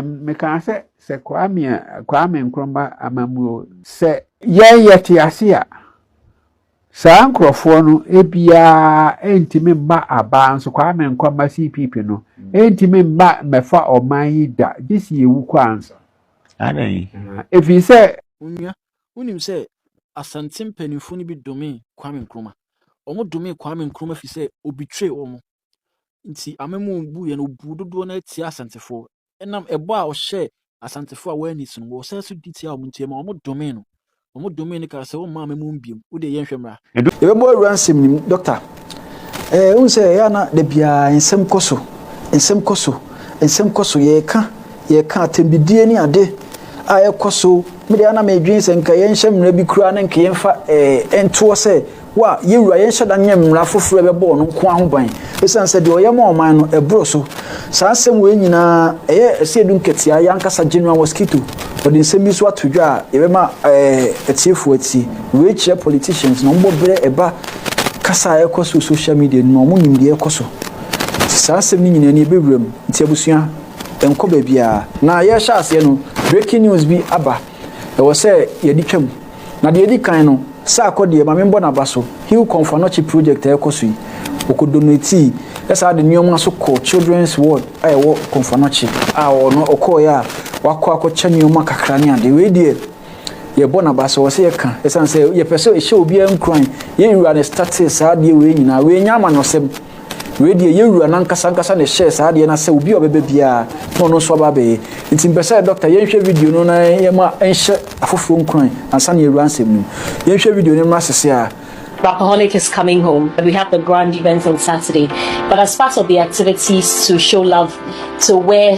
Mekaa sɛ sɛ Kwame a Kwame Nkrumah amammuo. Sɛ yɛn yɛte ase a, saa nkurɔfoɔ no ebiara ntumi mma abaa nso Kwame Nkrumah CPP no ntumi mma mmɛfa ɔman yi da gye si ewu kɔ ansa. Ɛfiri sɛ. Onua, wonim sɛ Asante mpanimfoɔ no bi domee Kwame Nkrumah. Wɔdomee Kwame Nkrumah firi sɛ ɔbitire wɔn. Nti amem a obuiɛ no, ɔbuu dodoɔ no ara tiaa Asantefoɔ. Ɛnam ɛbɔ a ɔhyɛɛ Asantefoɔ a wɔanni so no, wɔsan so di tiaa wɔn nti, ɛmaa wɔdomee no. Wɔdomee no kaa sɛ, Womma amem mu bio. Wo deɛ yɛnhwɛ mmra. Yɛbɛbɔ awura nsɛm no mu. Dɔkta, ɛɛ wohu sɛ ɛyɛ a na da biara nsɛm kɔ so, nsɛm kɔ so, nsɛm kɔ so. Yɛreka, yɛreka atɛmdidie ne ade a ɛrekɔ so. Me deɛ a na medwene sɛ nka yɛnhyɛ mmara bi koraa na nka yɛmfa ɛɛ ntoɔ sɛ Wo a, yɛn Wura, yɛnhyɛ da nyɛ mmara foforɔ a ɛbɛbɔ ɔno nko ara ho ban, ɛsiane sɛ deɛ ɔyɛ ma ɔman no, ɛboro so. Saa nsɛm wei nyinaa, ɛyɛ ɛsɛ yɛdu nkɛteaa, yɛn ankasa General Mosquito, ɔde nsɛm bi nso ato dwa a yɛbɛma ɛɛ atiefoɔ atie. Wei kyerɛ politicians no, wɔbɔ berɛ ɛba kasa a ɛrekɔ so wɔ social media no mu a, wɔnim deɛ ɛrekɔ so. Nti saa nsɛm no nyinaa ni, ɛbɛwura mu. Nti abusua, ɛnkɔ baabiara. Na yɛrehyɛ aseɛ no, breaking news bi aba, ɛwɔ sɛ yɛde twa mu. Na deɛ edi kan no, saa kɔ deɛ, ma me mbɔ n'aba so, Hill Kɔmfo Anɔkye project a ɛrekɔ so yi, ɔkɔ donatii saa de nnoɔma nso kɔ children's ward a ɛwɔ Kɔmfo Anɔkye a ɔno ɔkɔɔeɛ a wakɔ akɔkyɛ nnoɔma kakra ne adeɛ. Wei deɛ, yɛbɔ n'aba so, ɛwɔ sɛ yɛka, ɛsiane sɛ yɛpɛ sɛ ɛhyɛ obiara nkuran, yɛn wura na ɛstartee saa adeɛ wei nyinaa, wei nyɛ amanɔsɛm. Wei deɛ yɛn wura no ankasa ankasa na ɛhyɛɛ saa adeɛ no sɛ obi a ɔbɛbɛ biara na ɔno nso aba abɛyɛ nti mpɛ sɛ dɔkta yɛnhwɛ video no na yɛma ɛnhyɛ afoforɔ nkuran ansa na yɛwura nsɛm no mu yɛnhwɛ video no mmra sese a Rapaholic is coming home. We have the grand event on Saturday. But as part of the activities to show love to where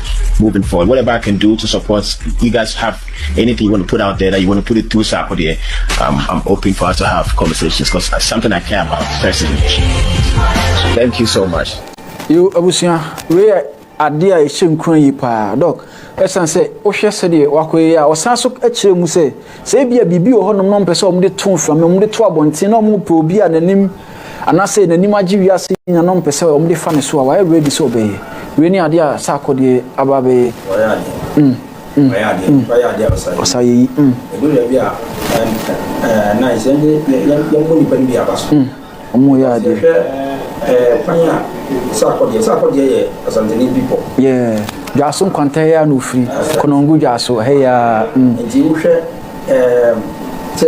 moving forward whatever I can do to support you guys have anything you want to put out there that you want to put it through so ako deɛ um, I'm open for us to have conversations because it's something I care about personally thank you so much yo abusua wei yɛ adeɛ a ɛhyɛ nkura yi paa dɔk ɛsiane sɛ wohwɛ sɛdeɛ wakɔyɛ a ɔsan so kyerɛ mu sɛ sɛ ebia biribi wɔ hɔnom na ɔmpɛ sɛ ɔmde to mframa ɔmde to abɔnten na ɔmopɛ obi a n'anim anaasɛ n'anim agye wiase nya no mpɛ sɛ wɔde fa ne so a wayɛ ready sɛ ɔbɛyɛ wei ne adeɛ a sɛ akɔdeɛ aba bɛyɛ ɔyɛ adeɛ mm, mm, ɔyɛ adeɛ mm. ɔyɛ adeɛ a ɔsa ɔsa yɛ yi mm. ɛdu na bi a na ɛsɛ yɛn yɛn yɛn bɔ nipa no bi aba so wɔn mm. yɛ adeɛ hwɛ ɛɛ kwan a sɛ akɔdeɛ sɛ akɔdeɛ yɛ asantene bi pɔ yɛɛ dwaso nkwanta yɛ a na ofiri kɔnɔngu dwaso ɛyɛ a mm. nti wohwɛ ɛɛ sɛ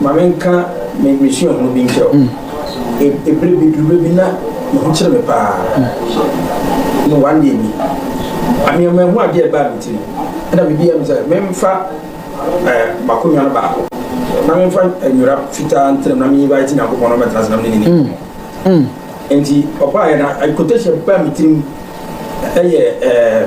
Ma menka me me suahunu bi nkyerɛ wo. E ebere bi duru bɛ bi na me ho kyere me paa. No one day bi, a me manhu adeɛ a ɛbaa me tirim. Ɛna me biaa mu sɛ menfa eh m'akonnwa no baako na menfa eh nwera fitaa ntra mu na me invite Nyankopɔn na ɔmmɛtena ase na me ne no nni nkɔmmɔ. Enti ɔbaeɛ na eh quotation a ɛbaa me tirim ɛyɛ eh.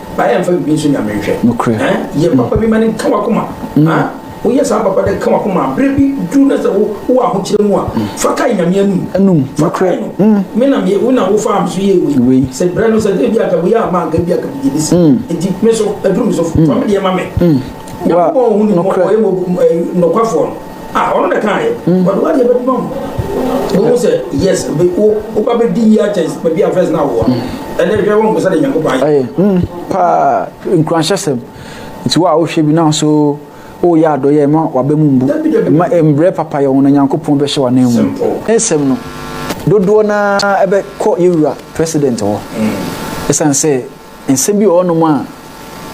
Ba yɛ nfa bibi nso nyame nhwɛ. Nokorɛ. Ɛn yɛ mm. papa bi ma ne nka wakoma. Mm. Ah, woyɛ saa papa dɛ ka wakoma a berɛ bi duru na sɛ wowɔ ahokyerɛ mu a mm. fa kae nyame anum. Anum. Nokorɛ. Me na me wo na wo fa am so yɛ wei. Wei. Sɛ berɛ no sɛ dɛ bi a kabu yɛ ama anka bi a kabu gye bisi. Enti me so aduru me so fa me deɛ ma me. Nyankopɔn ɔhu ne mmɔbɔ ɔyɛ nɔkwafoɔ no. Ah, ɔno na kaayɛ. Mm. Wɔde wadeɛ bɛde ma mu. Wohu sɛ yes, woba bɛdi yie akyɛn baabi a fɛs no awoɔ no. Mm. Ɛnɛ hwɛ wɔn sɛ de Nyankopɔn ayɛ. Mm, paa nkuranhyɛsɛm. Nti wo a wohwɛ bi na so woyɛ adɔyɛ ma waba mu mbu. Ma mbrɛ papa yɛ wɔn na Nyankopɔn bɛhyɛ wɔn nan mu. Nsɛm no dodoɔ no ara ɛbɛkɔ yɛwura president hɔ. Ɛsiane sɛ nsɛm bi wɔ hɔnom a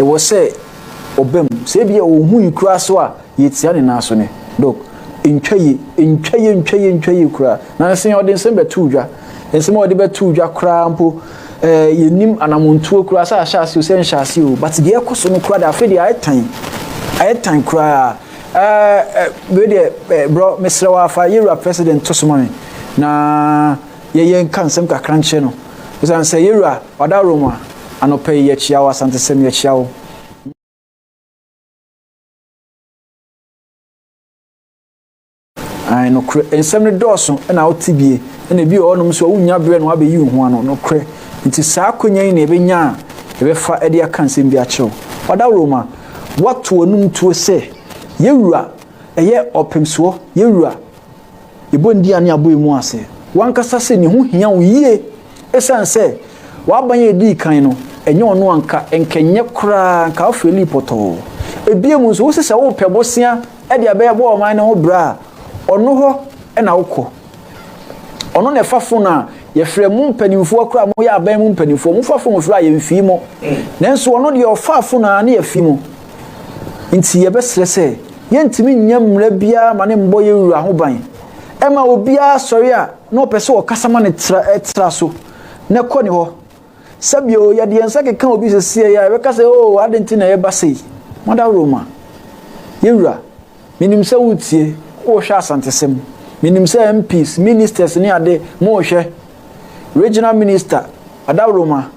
ɛwɔ sɛ ɔbam. Sɛ ebi a ɔhu yi koraa so a Yetsia ne nan so nnɛ. Dog, ntwa yie, ntwa yie, ntwa yie, ntwa yie koraa. Na nse ɔde nsem bɛtoo dwa. Nsem a ɔde bɛtoo dwa koraa mpo, eh, yɛnnim anamontuo koraa sɛ ahyɛ aseɛ o, sɛ nhyɛ aseɛ o. But deɛ ɛrekɔ so no koraa deɛ, afei deɛ ayɛ tan. Ayɛ tan koraa. Eh, eh, wei deɛ, eh, brɔ, mesrɛ wo ara fa yɛn wura President to so ma me, na yɛyɛ nka nsɛm kakra nkyerɛ no. Esiane sɛ yɛn wura wada Roma, anɔpa yi yɛkyea wo, Asantesɛm, yɛkyea wo. Ae nokorɛ, nsɛm no dɔɔso na wo tebie na ebi wɔ hɔnom so a wonnya berɛ na wabɛyi wo ho ano nokorɛ. Nti saa akwanya yi na yɛbɛnya a yɛbɛfa de aka nsɛm bi akyerɛ wo. Ɔdaworo ma woato w'anom tuo sɛ, Yɛwura, ɛyɛ ɔpemsoɔ, Yɛwura. Yɛbɔ Ndia ne Abɔemu ase w'ankasa sɛ ne ho hia wo yie ɛsiane sɛ w'aban a ɛdii kan no ɛnyɛ ɔno anka nka ɛnyɛ koraa nka wo feelii pɔtɔɔ. Ɛbiom nso wose sɛ wopɛ bosea ɛde abɛyɛ bɔ ɔman no ho bra a ɔno hɔ na wokɔ. Ɔno na ɛfa fon a yɛfrɛ mo mpaninfoɔ koraa mo yɛ aban mu mpaninfoɔ mo fa fon frɛ a yɛnfii mo nanso ɔno deɛ ɔfaa fon a ne yɛfii mo. Enti yɛbɛsrɛ sɛ yɛntumi nyɛ mmara biara mma ne mmɔ yɛn wura ho ban. Ɛma obiara sɔre a na ɔpɛ sɛ ɔkasa ma no tra tra so na kɔ ne hɔ. Sɛbio yɛde yɛn nsa keka obi sesieɛ a ɛbɛka sɛ oo ade nti na yɛba sei. Madaworo ma. Yɛwura, menim sɛ wotie, wohwɛ asantesɛm. Menim sɛ MPs, ministers ne ade, mohwɛ. Regional minister, Adaworoma,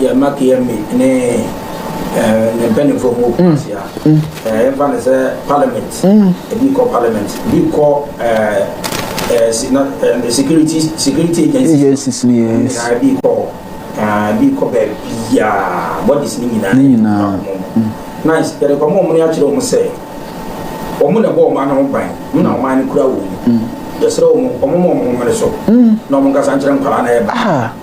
Yɛn mma Keyame ne ne mpanyinfoɔ mu obi ahyia. Yɛmfa no sɛ parliament, ebi kɔ parliament, ebi kɔ security security agencies no nyinaa ebi kɔ hɔ, ebi kɔ baabi a bodies no nyinaa ne nyinaa nice yɛde kɔma wɔn no akyerɛ wɔn sɛ wɔn na ɛbɔ wɔn ano ban wɔn na wɔn ano kura wɔn mu yɛsrɛ wɔn wɔn ma wɔn ho mmere so na wɔn nkasa nkyerɛ nkwadaa na ɛba.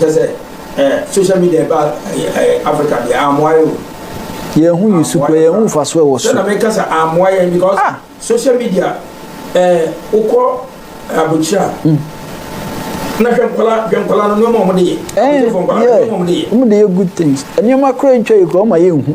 Kyɛ sɛ eh, social media ba eh, Africa deɛ amoa yɛ o. Yɛn ho yi so kura yɛn ho nfa so ɛwɔ so. Sɛnɛ meka sɛ amoa yɛn because ah. social media eh, wokɔ abokyira. Mm. na hwɛ nkɔla hwɛ nkɔla no nneɛma wɔn de yɛ. ɛɛ yɛ wɔn de yɛ good things nneɛma kura ntwa yɛ kura wɔn ma yɛ nhu.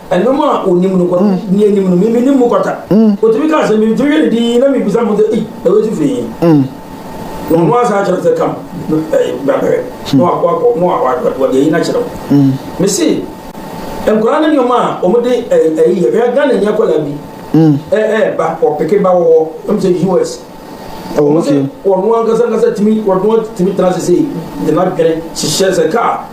ɛnom a onim no kɔno mm. ni anim no mimi ne mu kɔta mm. otumi ka sɛ mimi tumi yɛ ne din na mimi bisa mo sɛ ei na wei ti fi yi mm. na ɔno asa akyerɛ sɛ kam ɛɛ babɛrɛ na wakɔ akɔ na wakɔ wɔde ayi n'akyerɛ wo mesi nkwadaa ne nneɛma a wɔn de ɛɛ ɛyi yɛ bɛyɛ ghana nyɛ kɔla bi ɛɛ ɛɛ ba ɔpeke ba wɔ hɔ ɛmu sɛ us wɔn sɛ wɔn ankasa ankasa tumi wɔn tumi tena sese de na dwene hyehyɛ sɛ kaa.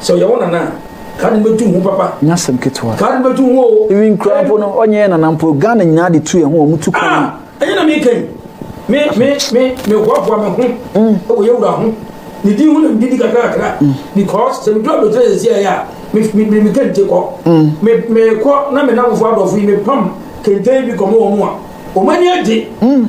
Sɛ ɔyɛ wo nana a, kaa no bɛtu ho papa. Nyɛ asɛm ketewa. Kaa no bɛtu ho o. Even kura mpo no, ɔnyɛ yɛ nana mpo. Ghana nyinaa de tu yɛn ho, wɔn tu kwan. Ah, ɛnyɛ na meka yi. Me, me, me, me hoahoa me ho. Mm. Ɛwɔ yɛ wura ho. Ne din ho na medidi kakrakra. Mm. Because sɛ medu aburokyerɛ sɛ si ayɛ a, me, me, me, me kente kɔ. Mm. Me, me kɔ na me namfo adɔfo yi, me pam kente bi kɔmɔ wɔn a. Wɔn ani agye. Mm.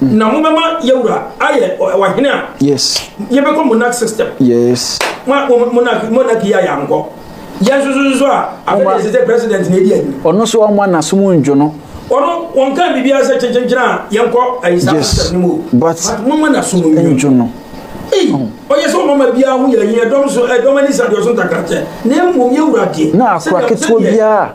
Na mo bɛma yɛwura ayɛ ɔhene a. Yes. Yɛbɛkɔ monarch system. Yes. Ma monarch monarch yɛ ayɛ ankɔ. Yɛn nso nso a afɛnɛ sɛ president na edi ayi. Ɔno nso ɔmo anasom ndwo no. Ɔno wɔn kan bibi asɛ kyenkyenkyen a yɛn kɔ ayi saa system no mu. But mo mo anasom ndwo no. Ee ɔyɛ sɛ ɔmama biara ho yɛ ayi ɛdɔm so ɛdɔm ani sa deɛ ɔso ntakrakyɛ na mmom yɛwura deɛ. Na akora ketewa biara.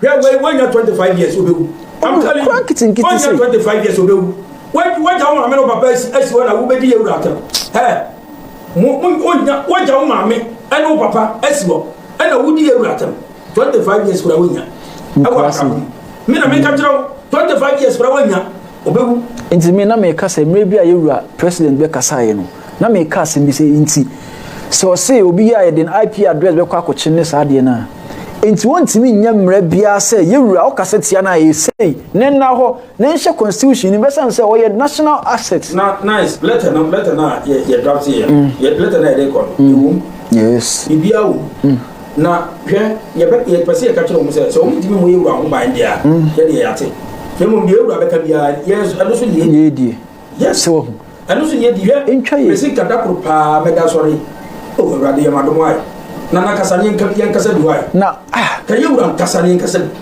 Hwɛ wei wanya 25 years obewu. I'm telling you. Nkitinkitin sɛ. Wanya 25 years obewu. Wagya wo maame no papa asi asi hɔ na wobɛdi yɛ wura atɛm. Hɛ. Mo mo onya wagya wo maame ɛne wo papa asi hɔ ɛna wodi yɛ wura atɛm. 25 years kura wonya. Ɛwɔ asam. Me na meka kyerɛ wo 25 years kura wonya. Ɔbɛwu. Nti me na meka sɛ mmerɛ bi a yɛwura president bɛkasaeɛ no na meka asɛm bi sɛ nti sɛ ɔse obi yɛ a yɛde no IP address bɛkɔ akɔkye no ne saa adeɛ no a nti wɔntumi nyɛ mmerɛ biara sɛ yɛwura ɔkasa tia no a ɛyɛ sei ne nna hɔ na ɛnhyɛ constitution no mu bɛsane sɛ ɔyɛ national asset. Na nice letter no letter no a yɛ yɛ draft yɛ mm. yɛ letter no a yɛde kɔ no mm. ɛwom yes biribiara wom. Mm. Na hwɛ, yɛbɛ, yɛpɛ sɛ yɛka kyerɛ wɔn sɛ, sɛ wɔntumi mmɔ yɛn wura ho ban deɛ a, yɛdeɛ yɛate. Na mmom deɛ yɛn wura bɛka biara, yɛn nso, ɛno so ne yɛdie. Yes, sɛ wahu. Ɛno so ne yɛdie. Hwɛ, Ntwa yɛ. mesi nka da koro paa mɛda asɔre. O Awurade, yɛ m'adom ae. Na na kasa ne yɛn, yɛnkasa bi wae. Na, ah. Ka yɛn wura nkasa ne yɛnkasa bi.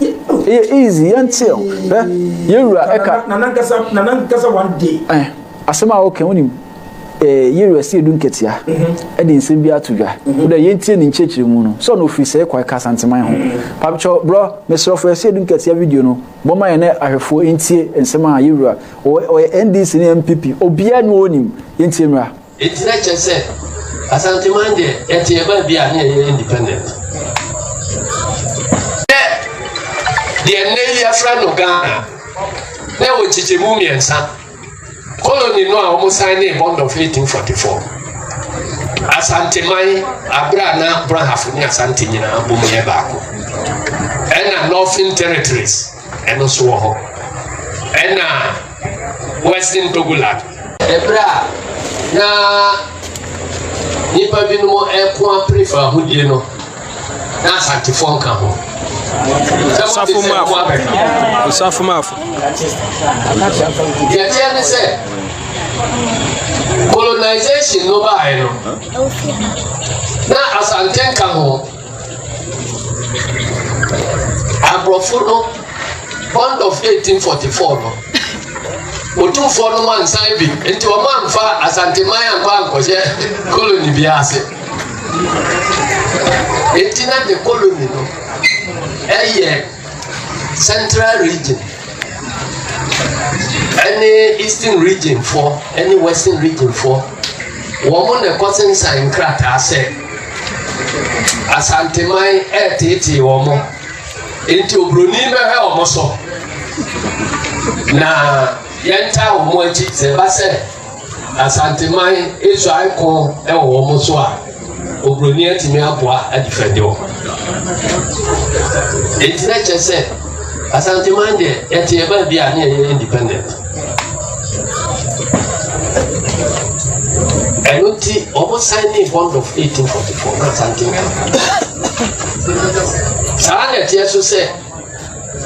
Ɛyɛ easy, yɛnteɛ o. Hwɛ, yɛn wura ɛka. Na nankasa na nankasa one day. Ɛn, asɛm a ɔka ho nim. Ɛɛ yɛn wura si edu nketea. Mhm. Ɛde nsɛm bi ato dwa. Mhm. Wodɛ yɛntie ne nkyerɛkyerɛ mu no. Sɛ ɔno ofiri sɛ ɛkɔ ɛka asanteman ho. Mhm. Pamkyɛw brɔ, mesrɛfo ɛsi edu nketea video no. Bɔma yɛn ne ahwɛfoɔ ntie nsɛm a yɛn wura. Ɔyɛ NDC ne NPP. Obiara ne wɔn nim. Yɛntie mmra. Enti na kyerɛ sɛ Asanteman deɛ yɛte yɛ baa bi a ne yɛyɛ independent. Dɛ deɛ nnɛ yi yɛfrɛ no Ghana na ɛwɔ nkyekyɛmu mmiɛnsa. Koloni no a wɔn san ne bond of 1844. Asanteman abere a na Brahafo ne Asante nyinaa bom yɛ baako. Ɛna Northern Territories. Ɛno nso wɔ hɔ. Ɛna Western Togoland. Ɛberɛ a na nnipa binom reko apere fa ahodie no, na Asantefoɔ nka ho. Osafo Mafo. Osafo Mafo. Deɛ ɛteɛ ne sɛ, colonization no baeɛ no, na Asante nka ho. Aborɔfo no bond of 1844 no, Otumfoɔ no wɔnsan bi nti wɔn anfa Asanteman ankɔ ankɔhyɛ koloni bi ase. Eti na de koloni no ɛyɛ central region ɛne eastern region foɔ ɛne western region foɔ wɔn na ɛkɔ sensan nkrataa sɛ. asanteman ɛreteetee wɔn mo nti oburoni bɛhwɛ wɔn mo so na yɛntaa wɔn mo akyi sɛ ɛba sɛ asanteman esuae ko ɛwɔ wɔn mo so a oburoni atumi aboa adifɛde wɔn nti na kyɛ sɛ asanteman deɛ yɛte ɛbaa bi a ne yɛyɛ independent. ɛno nti wɔn san ne bond of eighteen forty four na asante nka saa na ɛteɛ so sɛ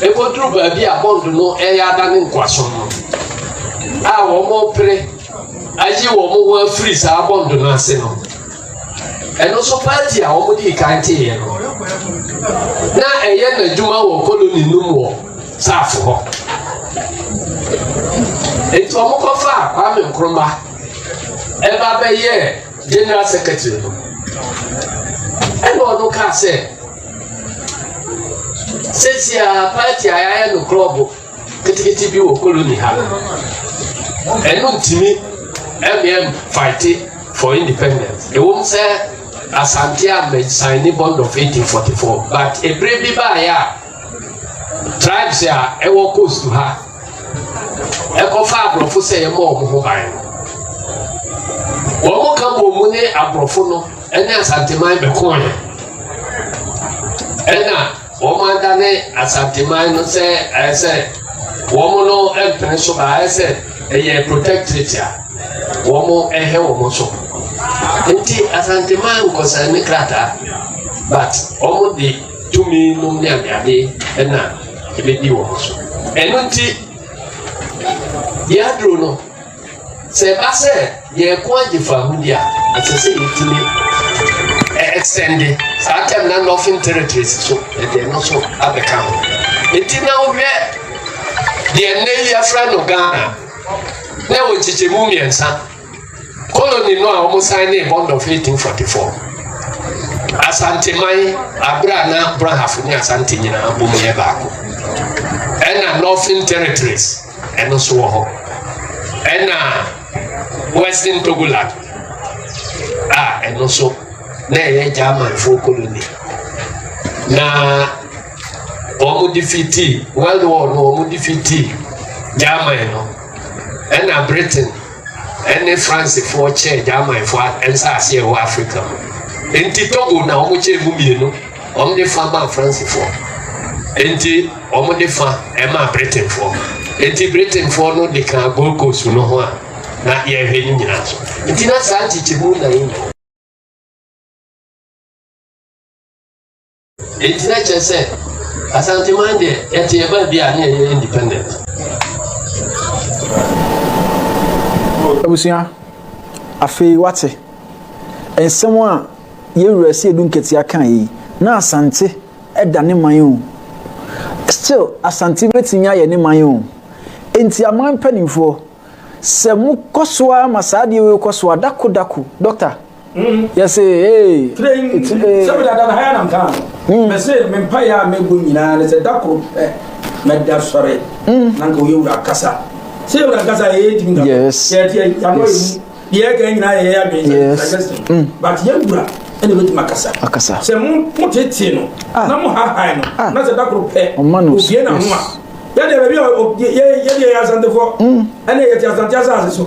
ɛkɔduru baabi a bond no ɛyɛ ada ne nkoaso no a wɔn pere ayi wɔn ho afiri saa bond no ase no ɛno nso paati a wɔn di kan te yɛ no na ɛyɛ n'adwuma wɔ koloni no mu wɔ. saafo hɔ nti wɔn kɔfa kwame nkrumah ɛba bɛyɛ general secretary no ɛna ɔno kaa sɛ sɛsi a party a yɛayɛ no club ketekete bi wɔ koloni ha no ɛno ntumi ɛmɛm fighte for independence ɛwom sɛ asante a mɛsan ne bond of 1844 but ebere bi baayɛ a tribes a ɛwɔ coast ha ɛkɔfa aborɔfo sɛ yɛmmɔ wɔn ho ban wɔn ka bɔ mu ne aborɔfo no ɛne asanteman bɛkɔn ɛna wɔn ada ne asanteman no sɛ ɛyɛ sɛ wɔn no mpene so ba ɛyɛ sɛ ɛyɛ protectorate a wɔn ɛhɛ wɔn so nti asanteman nkɔsɛn ne krataa but wɔn de. tumi nom ne adeade na ɛbɛdi wɔn so ɛno nti yɛaduro no sɛ ɛba sɛ yɛreko agye fa ho di a ɛsɛ sɛ yɛtumi ɛsɛnde saa tɛm na nɔfin territories so ɛdeɛ no so abɛka ho nti na wohwɛ deɛ nnɛ yi afra no ghana na ɛwɔ nkyekyɛmu mmiɛnsa Colony no a wɔn san ne bond of 1844. Asanteman abere a na Brahafo ne Asante nyinaa bom yɛ baako. Ɛna Northern Territories ɛno so wɔ hɔ. Ɛna Western Togoland a ɛno so na ɛyɛ Germanfo colony. Na wɔn defeatii World War no wɔn defeatii German no Ɛnna Britain ne Fransefoɔ kyɛɛ Gyamanfoɔ a nsase a ɛwɔ Afrika mu. Enti Togo na wɔkyɛɛ mu mmienu. Wɔde fa maa Fransefoɔ. Enti wɔde fa maa Britainfoɔ. Enti Britainfoɔ no de kaa Gold Coast no ho a na yɛhwɛ no nyinaa so. Nti na saa nkyekyɛmu na yɛnyɛ. Eyi sɛ kyerɛ sɛ Asanteman deɛ yɛte yɛ baabi a ne yɛyɛ independent. Abusua, afei wate. Nsɛm a yɛwura si edu nketea kan yi, na Asante da ne man o. Still, Asante bɛtumi ayɛ ne man o. Enti aman mpaninfoɔ, sɛ mokɔ so ara ma saa adeɛ wei kɔ so a, dako dako, Dɔkta, yɛse ee sɛ mede adana ha yɛ nam kaa no mɛse hmm. me mpaeɛ a mɛbɔ nyinaa ne sɛ da koro pɛ mɛda sɔre hmm. na nka woyɛ wura ankasa sɛ yɛ wura ankasa yɛyɛ timi yɛteɛ yɛanɔ yɛ mu deɛ ɛka nyinaa yɛyɛ adwene sɛ hmm. but yɛ wura ɛna bɛtumi akasa akasa sɛ motetee no ah. na mohahae no ah. na sɛ da koro pɛ obie na ho a yɛdeɛ baabi a yɛdeɛ yɛ asantefoɔ ɛne yɛte asante asase so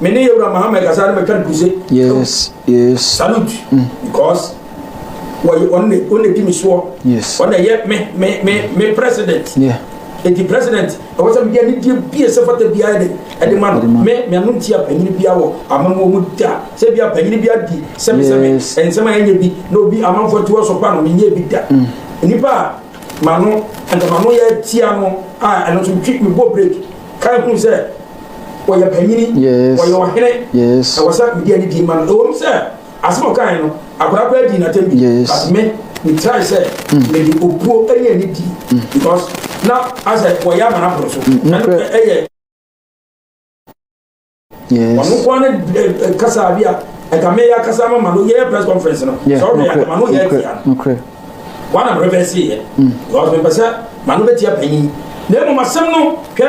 Me ne Yewura Mahama kasa no mɛtwa no kuse. Yes, yes. Salute. Mm. Because wɔyɛ wɔn na wɔn na di mi soɔ. Yes. Wɔn na yɛ me me me me president. Yeah. Eti president ɛwɔ sɛ mi di anidie bie sɛ fata biara de ɛde ma no. Me me ano nti a panyin bia wɔ amamuo mu da sɛ bia panyin bia di sɛmesɛme nsɛm a yɛnyɛ bi na obi amanfoɔ ti wɔ so pa no mi nyɛ bi da. Mm. Nipa a ma no nka ma no yɛ tia no a ɛno nso twi mi bɔ break kan kun sɛ. wɔyɛ panyini wɔyɛ ɔhene ɛwɔ sɛ medi ani di ma no ɛwɔ mu sɛ asɛm ɔkae no akwadaa koraa di n'atɛm bi but me metrae sɛ mede obuo ne ani di because na asɛ wɔyɛ ama no aboro so ɛyɛ ɔno nkoa ne kasa bi a ɛka meyɛ akasa ma ma no yɛyɛ press conference no sɛ ɔhwɛ yɛ ma no yɛ atia no wana mepɛpɛ seyɛ because mepɛ sɛ ma no bɛtia panyin na mmom asɛm no hwɛ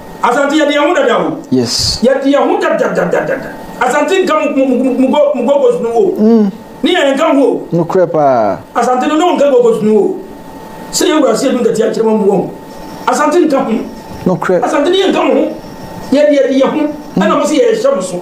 Asante yɛde yɛn ho dada o. Yes. Yɛde yɛn ho dadadadada. Asante nka mugogos no o. Mm. Ne yɛn nka ho o. Nokorɛ paa. Asante no ne wɔn nka gogos no o. Sɛ yɛ wura se yɛdu nkati akyerɛ wɔn mu wɔn. Asante nka ho. Nokorɛ. Asante ne yɛn nka mo ho. Yɛde yɛde yɛn ho. Ɛna mo se yɛhyɛ mo so.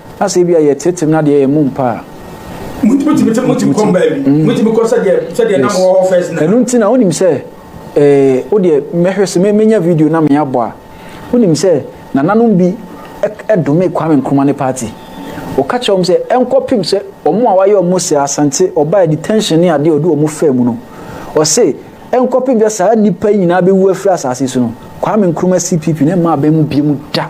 Na sɛ ebia yɛteetee no na deɛ yɛn mu mpa a. Motumi tumi tumi tumi kɔm baabi. Motumi kɔ sɛdeɛ sɛdeɛ na mowɔ hɔ first na. Ɛno nti na wonim sɛ ɛɛ wodeɛ mɛhwɛ sɛ mɛnya video na meabɔ a wonim sɛ nananom bi ɛdomee Kwame Nkrumah ne party. Ɔka kyerɛ wɔn sɛ ɛnkɔpem sɛ wɔn a wayɛ wɔn sɛ Asante ɔbaa detention ne adeɛ a ɔde wɔn faa mu no ɔse ɛnkɔpem sɛ saa nnipa yi nyinaa bɛwu afiri asase so no Kwame Nkrumah CPP no mmaa abɛn mu biom da.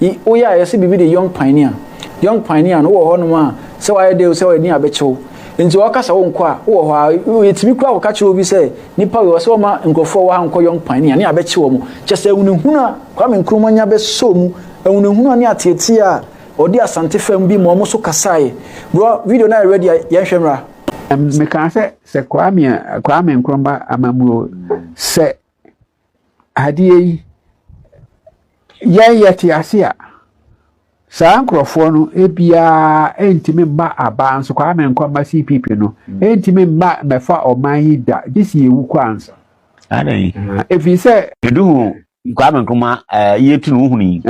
Yi wo yɛ a yɛse biribi de young pioneer young pioneer no wowɔ hɔ nom a sɛ wayɛ dɛ o sɛ wayɛ din a bɛkyɛ wo nti wɔka sɛ wo nkɔ a wowɔ hɔ a yɛtumi kura kɔka kyerɛ obi sɛ nipa wei wɔ sɛ wɔma nkurɔfoɔ wɔ ha nkɔ young pioneer ne abɛkye wɔn kyɛ sɛ ahunahunu a Kwame Nkrumah nya bɛsɔ mu ahunahunu a ne ateateɛ a ɔde Asante fam bi ma wɔn so kasaeɛ bro video no ayɛ ready a yɛnhwɛ mmra. Mekaa sɛ sɛ Kwame Nkrumah amammuo sɛ adeɛ yi, yɛn yɛte ase a, saa nkurɔfoɔ no biara ntumi mma abaa nso Kwame Nkrumah CPP no ntumi mma mmɛfa ɔman yi da gye si yɛwu kɔ ansa. Ɛfiri sɛ. Edu ho Kwame Nkrumah eh, yie tu no wohunu yi.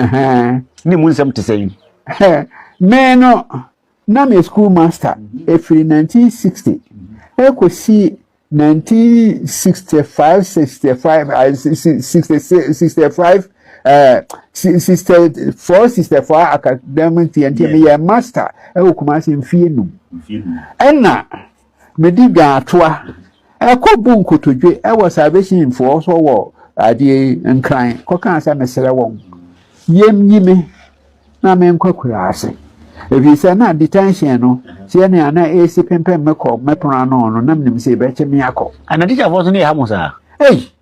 Ne mu nsɛm te sɛ yi. Me no, na me school master ɛfiri 1960 ɛkɔsi nineteen sixty five sixty five sixty six sixty five sixty four sixty four academic year nti meyɛ master ɛwɔ kumase mfie num ɛna medi dwan atoa ɛkɔ bu nkotodwe ɛwɔ salvation foɔ so wɔ adeɛ nkran kɔka sɛ mesrɛ wɔn yɛm nyi me na menkɔ akuraase, ɛfiri sɛ na detention no teɛ nea na ɛresi pempem me kɔ me pono ano no, na menim sɛ ɛbɛkye me akɔ. Ana tikyafoɔ nso ne ɛha mo saa? Ei!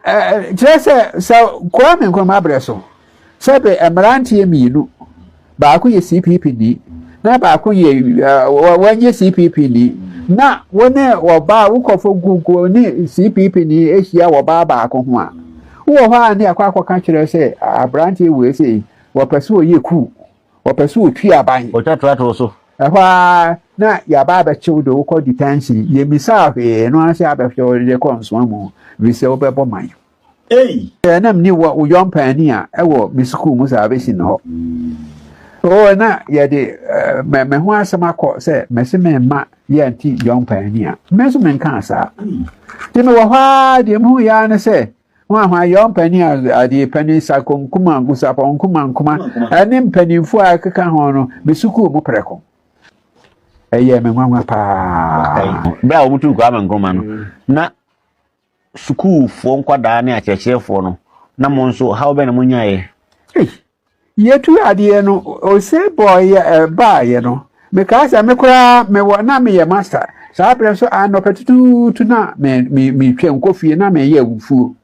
Kyerɛ sɛ, sɛ Kwame Nkrumah berɛ so, sɛ bɛ mmeranteɛ mmienu, baako yɛ CPP ni, na baako yɛ wɔnyɛ CPP ni, na wo ne ɔbaa wokɔfo gugu ne CPP ni ahyia ɔbaa baako ho a, Wo wɔ hɔ a ne akɔ akɔka kyerɛ sɛ abranteɛ wei se wɔpɛ sɛ ɔyɛ kuu, wɔpɛ sɛ ɔtwi aban. Ɔtwa traktor wɔ so. Ɛhɔ ara na yɛaba abɛkye wo de wo kɔ detention. Yɛmmisaa hwee, ɛno ara sɛ abɛhwɛ wo de kɔ nsoa mu firi sɛ wobɛbɔ man. Ei! Sɛ na menni wo wo yɔmpaani a ɛwɔ me sukuu mu salvation hɔ. Oo na yɛde me ho asɛm akɔ sɛ mɛse meremma Yɛ nti John pae ni a. Me nso menkaa saa. Nti mewɔ hɔ ara deɛ mehu yɛ ara ne sɛ hwan hwan yɛ ɔmpanin a adeɛ panin sako nkuma nkosapɔ nkuma nkuma ɛne mpanimfoɔ a ɛkeka ho no me sukuu mu prɛko ɛyɛ me nwanwa paa bere a wɔtu nkɔ ama nkoma no na sukuufoɔ nkwadaa ne akyerɛkyerɛfoɔ no na mo nso haw bɛn na monyaeɛ? Ei, yɛtu adeɛ no ose bɔɔyɛ eh, baeɛ no, mekaa sɛ me koraa mewɔ na meyɛ master saa berɛ nso anɔpa tutuutu na me me metwam kɔ fie na meyɛ abufuo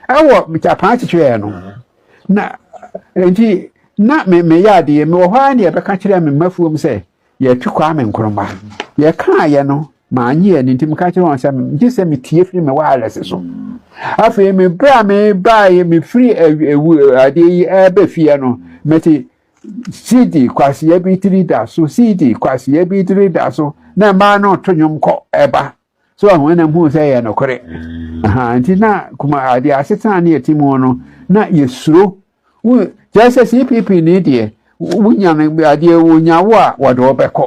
ɛwɔ tapaa kyekyerɛɛ no na nti na me meyɛ adeɛ mewɔ hɔ ara ne ɛbɛka kyerɛ me mafuom sɛ Yɛtwe Kwame Nkrumah. Yɛkaeɛ no, mannye anni nti meka kyerɛ wɔn sɛ gye sɛ metie firi me wireless so. Afei me berɛ a mebaeɛ mefiri adeɛ yi ɛbɛ fie no mete CD kwaseɛ bi tiri da so CD kwaseɛ bi tiri da so na mmaa no to nnwom kɔ ɛba. so ɔhun na hu sɛ yɛ nokore nti na kuma adeɛ asetena ne yɛte mu no na yɛsuro kyerɛ sɛ cpp ne deɛ wonya no adeɛ wonya wo a wɔde wo bɛkɔ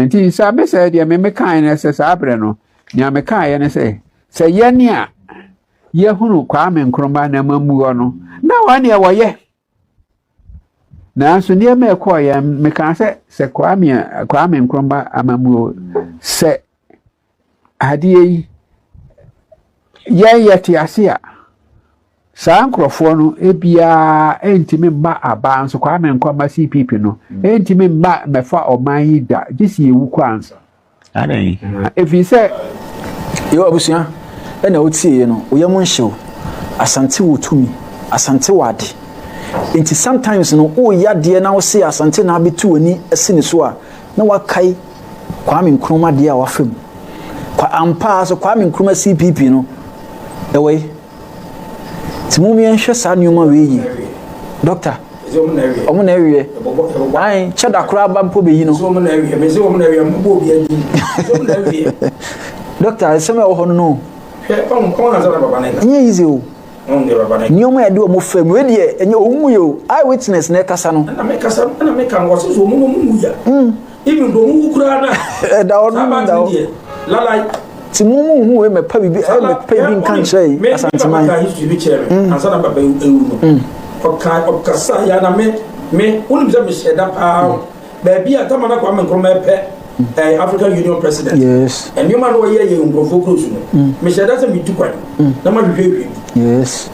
nti saa me sɛ deɛ me mekae no sɛ saa berɛ no nea mekaeɛ no sɛ sɛ yɛne a yɛhunu kwame nkroma na mammuɔ no na wɔn deɛ wɔyɛ Nanso nneɛma ɛkɔɔ yɛn mekaa sɛ sɛ Kwame Kwame Nkrumah amammuo sɛ adeɛ yi yɛn yɛte ase a saa nkurɔfoɔ no ebiara ɛntumi mma abaa nso Kwame Nkrumah CPP no ɛntumi mma mɛfa ɔman yi da gye si ewu kɔ ansa. Adɛn? Ɛfiri sɛ yɛwɔ abusua na wotieeɛ no wo yam nhyew. Asante wɔ tumi, Asante wɔ ade. Nti sometimes no woreyɛ adeɛ na wo se Asante na abɛtu w'ani asi ne so a, na woakae Kwame Nkrumah adeɛ a wafa mu. Kwa ampa ara so Kwame Nkrumah CPP no, ɛwɔ yi. Nti mom yɛn hwɛ saa nneɛma wei yie. Dɔkta. Ɔmo na ɛwiɛ. Ayi kyɛ da koraa ba mpo bɛyi no. Dɔkta ɛsɛm a ɛwɔ hɔ no no. Nyɛ yize o. Nneɛma yɛde ɔmo fɛ mu ɛdeɛ ɛnyɛ ɔmo mu yɛ o. Eye witness na ɛkasa no. Ɛna mekasa ɛna meka no wɔsɛ so ɔmo no ɔmo mu ya. even bɔ mu wu koraa na ɛda hɔ no da hɔ lalai ti mu mu hu wei mɛpa bibi ɛ mɛpa bi nka nkyerɛ yi asanteman mɛpa history bi kyerɛ mi mm. ansa na papa ewu no mm. ɔka ɔkasa ya na me me wɔn sɛ mehyɛ da paa mm. baabi a tama na kwame nkrumah ɛpɛ ɛɛ eh, african union president yes nneɛma na ɔyɛ yɛ nkurɔfoɔ kuro so no mehyɛ da sɛ metu kwan na ma hwehwɛ ehwɛ bi yes.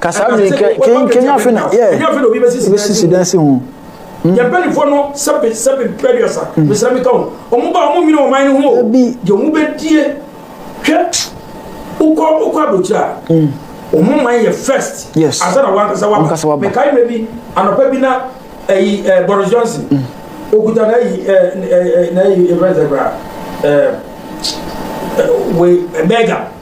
Ka saa mmiri kɛ kɛn kɛn afe na yɛ ebesisi dan si ho. Hmm. Yɛn mpanyinfoɔ no sɛbe sɛbe bɛduasa hmm. mesrɛ me ka ho ɔmo ba ɔmo nwene ɔman no ho o deɛ ɔmo bɛdie hwɛ wokɔ wokɔ aburokyire a hmm. ɔmo man yɛ first ansa na wankasa waba mekae mmerɛ bi anɔpa bi na ɛyi eh, eh, Boris Johnson okuta na ɛyi eh, na ɛyi ɛfɛn sɛ koraa ɛɛ wei bɛɛga.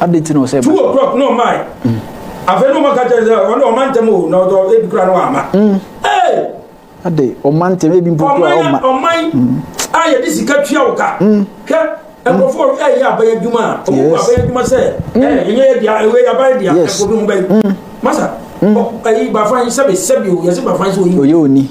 Adi ti na ɔsɛ. Two o'clock na ɔmae. Mm. Afei na ɔmaka kyerɛ sɛ ɔne ɔma ntɛm o na ɔdɔ ebi kura no ama. Mm. Ee. Ade ɔma ntɛm ebi mpo kura ɔma. Ɔman mm. a yɛde sika tua wo ka. Mm. Hwɛ nkurɔfoɔ mm. ɛyɛ aban adwuma a ɔmo kɔ aban adwuma sɛ ɛyɛ ɛnyɛ yɛ dea ɛwɛ yɛ aban dea ɛkɔ bi ho bɛyi. Masa ɛyi bafan sɛbi sɛbi o yɛsi bafan sɛ oyi. Oyɛ oni.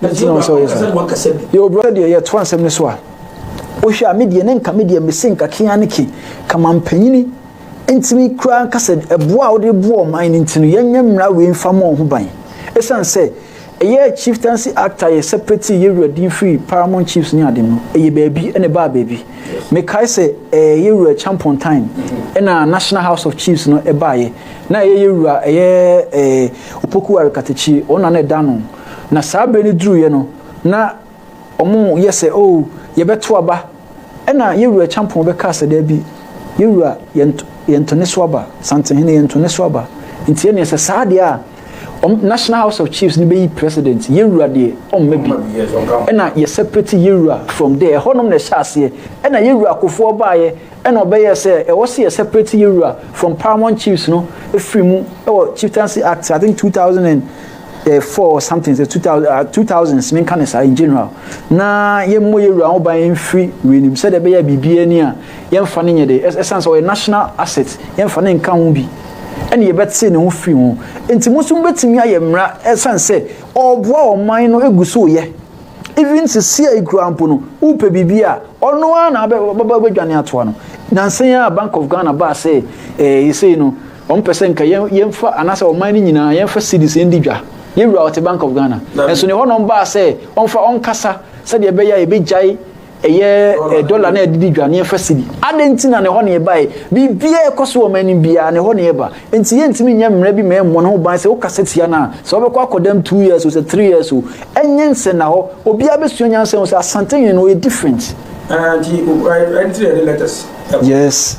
na nti na wɔn sɛ wɔyɛ saa yɛ obrɔ deɛ yɛ to asɛm no so a wohwɛ a medeɛ ne nka medeɛ mese nka kea ne ke kama mpanyini ntumi koraa nka sɛ ɛboa a wode boɔ ɔman no nti no yɛnyɛ mmara wei mfa ma ho ban ɛsiane sɛ ɛyɛ chieftaincy act a yɛ separate yɛwura din firi paramount chiefs ne ade no ɛyɛ baabi ɛne baa baabi mekae sɛ ɛyɛ yɛwura champon time ɛna national house of chiefs no ɛbaeɛ na ɛyɛ yɛwura ɛyɛ opoku arekatakyi wɔn na na ɛda no Na saa berɛ no duruiɛ no, na wɔyɛ sɛ, Oh, yɛbɛto aba. Ɛnna yɛn wura Kyampɔn bɛkaa sɛ, Dabi, yɛn wura, yɛnto, yɛnto ne so aba. Santenhene, yɛnto ne so aba. Nti ɛnneɛ sɛ saa deɛ a, wɔn, National House of Chiefs no bɛyi president, yɛn wura deɛ, ɔmma bi. Ɛnna yɛsɛprɛti yɛn wura from there. Ɛhɔ nom na ɛhyɛ aseɛ. Ɛnna yɛn wura Akufoɔ baaeɛ, ɛnna ɔbɛyɛɛ sɛ ɛwɔ sɛ yɛsɛprɛti yɛn wura from Paramount Chiefs no firi mu wɔ Chieftaincy Act, I think two thousand and eh, four something sɛ two thousand ah, two thousands menka ne saa in general na yɛmmɔ yɛ wura ho ban mfiri weinim sɛdeɛ ɛbɛyɛ biribi ani a yɛmfa no nyɛ de ɛsiane sɛ ɔyɛ national asset yɛmfa no nka ho bi ɛne yɛbɛte ne ho firi ho nti mo nso mobɛtumi ayɛ mmara ɛsiane sɛ ɔboa ɔman no gu so yɛ even sisi a ekura mpo no wopɛ biribi a ɔno ara na abɛdwane atoa no nansan a bank of ghana baa sɛ ɛɛ eh, yɛsei no Wɔpɛ sɛ nka yɛn yɛnfa anaasɛ ɔman no nyinaa yɛnfa cedis ndi dwa. Yɛn wura ɔte Bank of Ghana. Nanso nea ɛhɔ nom baa sɛ ɔmfa ɔnkasa sɛdeɛ ɛbɛyɛ a yɛbɛgyae ɛyɛ eh, dɔla na yɛde di dwa na yɛmfa cedi. Adɛn nti na ne hɔ na ɛbaeɛ? Biribiara a ɛkɔ so wɔ ɔman no biara ne hɔ na ɛba. Enti yɛntumi nyɛ mmara bi ma ɛmmɔ ne ho ban sɛ wokasa tia no a, sɛ wobɛkɔ akɔdam two years o, sɛ three years o. Ɛnyɛ nsɛnnahɔ. Obiara bɛsua nyansa ahu sɛ Asantehene no ɔyɛ different. Ah, nti ɛnti na yɛde letters ɛkɔ. Yes.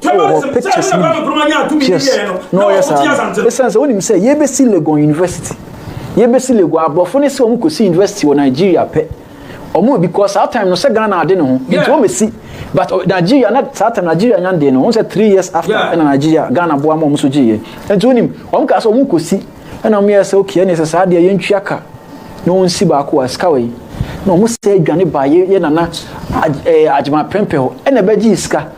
wɔ hɔ pictures no bi yes na ɔyɛ saa no ɛsiane sɛ wonim sɛ yɛbɛsi legon university yɛbɛsi legon aborɔfo no sɛ wɔn kɔsi university wɔ nigeria pɛ wɔn because saa time no sɛ ghana ade ne ho nti wɔbɛsi but uh, nigeria na saa time nigeria nya deɛ no wɔn sɛ three years after ɛna nigeria ghana boa ma wɔn so gyeeɛ nti wonim wɔn kaa sɛ wɔn kɔsi ɛna wɔn yɛ sɛ okay ɛna ɛsɛ saa deɛ yɛntwia ka na wɔn si baako a sika wɔ yi na wɔn sɛ adwane ba yɛ nana agyema pɛmpɛ hɔ ɛna ɛbɛgye sika